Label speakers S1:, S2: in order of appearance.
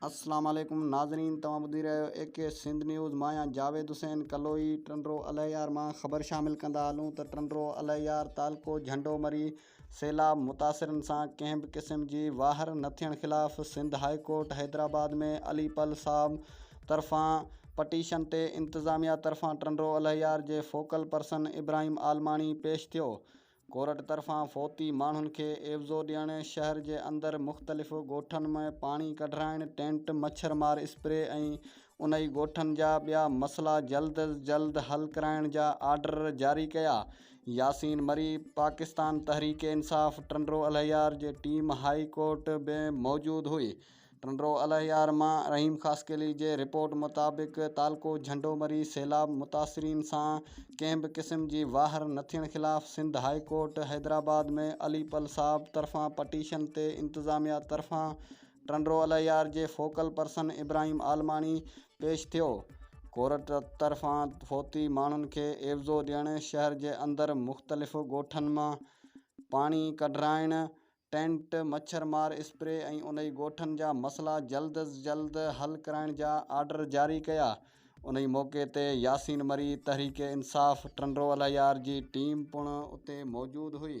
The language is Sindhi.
S1: السلام عليڪم ناظرين توهان ٻڌي رهيا آهيو اي ڪي سنڌ نيوز مان آهيان جاويد حسين ڪلوئي ٽنڊو الهيار مان خبر شامل ڪندا هلون ته ٽنڊو الهيار تعلقو جهنڊو مري سيلاب متاثرن سان ڪنهن به قسم جي واهر نه ٿيڻ خلاف سنڌ هاء ڪورٽ حيدرآباد ۾ علي پل صاحب طرفان پٽيشن تي انتظاميا طرفان ٽنڊو الهيار جي فوڪل پرسن ابراهيم عالماڻي پيش ٿيو ڪورٽ طرفان فوتي ماڻهن کي عيوضو ڏيڻ شهر جي اندر مختلف ڳوٺن ۾ پاڻي ڪڍرائڻ ٽينٽ مڇر مار اسپري ۽ انهي ڳوٺن جا ٻيا مسئلا جلد از جلد حل ڪرائڻ جا آرڊر جاري ڪيا. ياسين مري پاڪستان تحريڪ انصاف ٽنڊو الهيار جي ٽيم هاء ڪورٽ ۾ موجود هئي. ٽنڊو الهيار مان رحيم خاصخيلي جي رپورٽ مطابق تعلقو جهنڊو مري سيلاب متاثرين سان ڪنهن به قسم جي واهر نه ٿيڻ خلاف سنڌ هاء ڪورٽ حيدرآباد ۾ علي پل صاحب طرفان پٽيشن تي انتظاميا طرفان ٽنڊو الهيار جي فوڪل پرسن ابراهيم عالماڻي پيش ٿيو. ڪورٽ طرفان فوتي ماڻهن کي عيوضو ڏيڻ، شهر جي اندر مختلف ڳوٺن مان پاڻي ڪڍرائڻ، ٽينٽ، مڇر مار اسپري ۽ انهي ڳوٺن جا مسئلا جلد از جلد حل ڪرائڻ جا آرڊر جاري ڪيا. انهي موقعي تي ياسين مري، تحريڪ انصاف ٽنڊو الهيار جي ٽيم پڻ اتي موجود هئي.